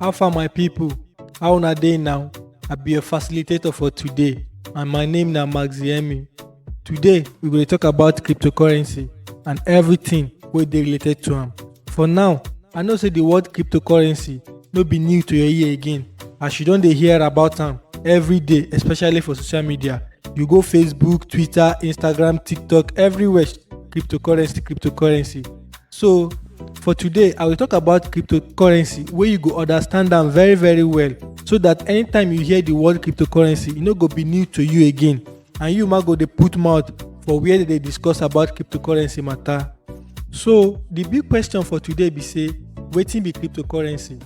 How far my people? How una dey now? I be your facilitator for today and my name na Maxiemi. Today we go dey talk about cryptocurrency and everything wey dey related to am. For now, I know say the word cryptocurrency no be new to your ear again as you don dey hear about am every day especially for social media. You go Facebook, Twitter, Instagram, TikTok everywhere cryptocurrency cryptocurrency so for today i will talk about cryptocurrency wey you go understand am very very well so that anytime you hear the word cryptocurrency e no go be new to you again and you ma go dey put mouth for where dem dey discuss about cryptocurrency matter so the big question for today be say wetin be cryptocurrency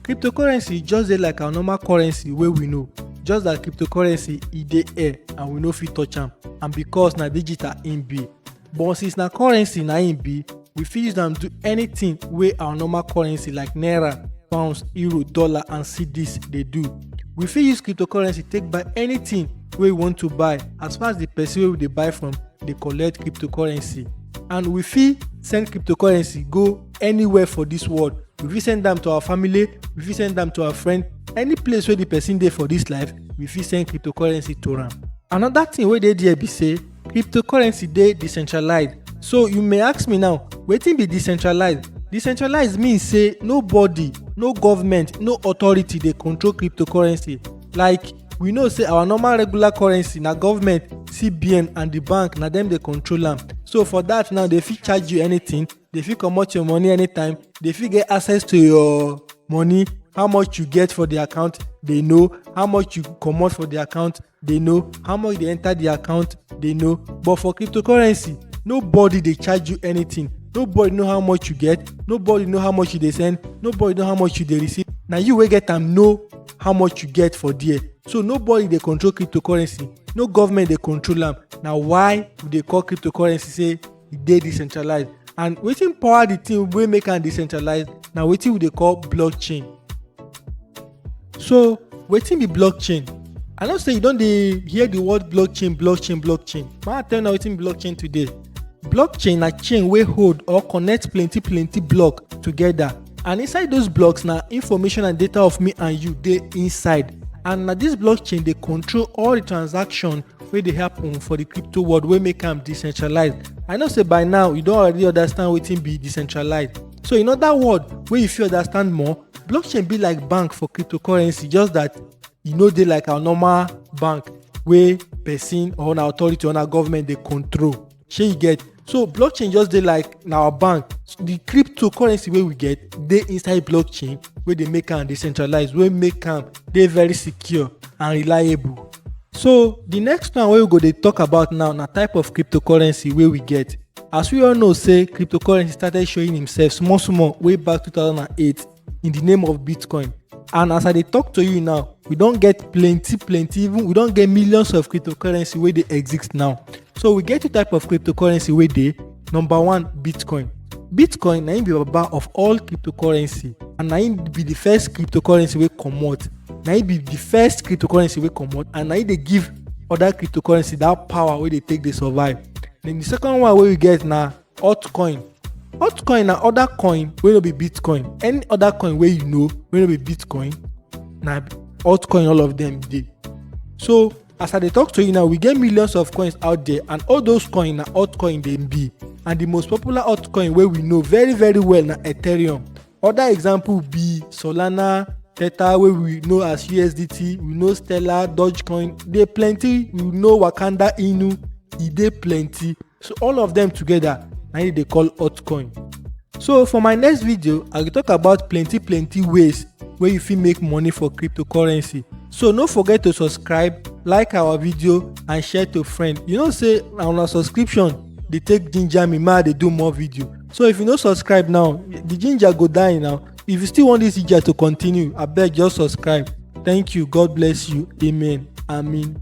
cryptocurrency just dey like our normal currency wey we know just like cryptocurrency e dey air and we no fit touch am and because na digital im be but since na currency na im be we fit use am do anything wey our normal currency like naira pounds euro dollar and cedis dey do we fit use cryptocurrency take buy anything wey we want to buy as far as the person wey we dey buy from dey collect cryptocurrency and we fit send cryptocurrency go anywhere for dis world we fit send am to our family we fit send am to our friend any place wey the person dey for dis life we fit send cryptocurrency to am another thing wey dey there be say cryptocurrency dey decentralized so you may ask me now wetin be decentralized decentralized mean say nobody no government no authority dey control cryptocurrency like we know say our normal regular currency na government cbn and the bank na dem dey control am so for that now they fit charge you anything they fit comot your money anytime they fit get access to your money how much you get for the account they know how much you comot for the account they know how much dey enter the account they know but for cryptocurrency nobody dey charge you anything nobody know how much you get nobody know how much you dey send nobody know how much you dey receive na you wey get am know how much you get for there so nobody dey control cryptocurrency no government dey control am na why we dey call cryptocurrency say e dey decentralized and wetin power the thing wey make am decentralized na wetin we dey call blockchain so wetin be blockchain i know say you don dey hear the word blockchain blockchain blockchain ma i tell una wetin be blockchain today blockchain na chain wey hold or connect plenty plenty block together and inside those blocks na information and data of me and you dey inside and na this blockchain dey control all the transaction wey dey happen for the crypto world wey make am decentralized i know say by now you don already understand wetin be decentralized so in other words wey you fit understand more blockchain be like bank for cryptocurrency just that e no dey like our normal bank wey person or na authority or na government dey control shey you get so blockchain just dey like na our bank the cryptocurrency wey we get dey inside blockchain wey dey make am decentralized wey make am dey very secure and reliable so the next one wey we go dey talk about now na type of cryptocurrency wey we get as we all know say cryptocurrency started showing himself small small way back 2008 in the name of bitcoin and as i dey talk to you now we don get plenty plenty even we don get millions of cryptocurrency wey dey exist now so we get two type of cryptocurrency wey dey number one bitcoin bitcoin na im be baba of all cryptocurrency and na im be the first cryptocurrency wey comot na im be the first cryptocurrency wey comot and na im dey give other cryptocurrency that power wey dey take dey survive then the second one wey we get na altcoin altcoin na other coin wey no be bitcoin any other coin wey you know wey no be bitcoin na altcoin all of them dey so as i dey talk to you now we get millions of coins out there and all those coin na altcoin dem be and the most popular altcoin wey we know very very well na ethereum other example be solana tether wey we know as usdt we know stellar dogecoin dey plenty we know wakanda inu e dey plenty so all of them together na im dey call altcoin so for my next video i go talk about plenty plenty ways wey you fit make money for cryptocurrency so no forget to subscribe like our video and share to friend you know say na una subscription dey take ginger me make i dey do more video so if you no subscribe now the ginger go die now if you still want this ginger to continue abeg just subscribe thank you god bless you amen amen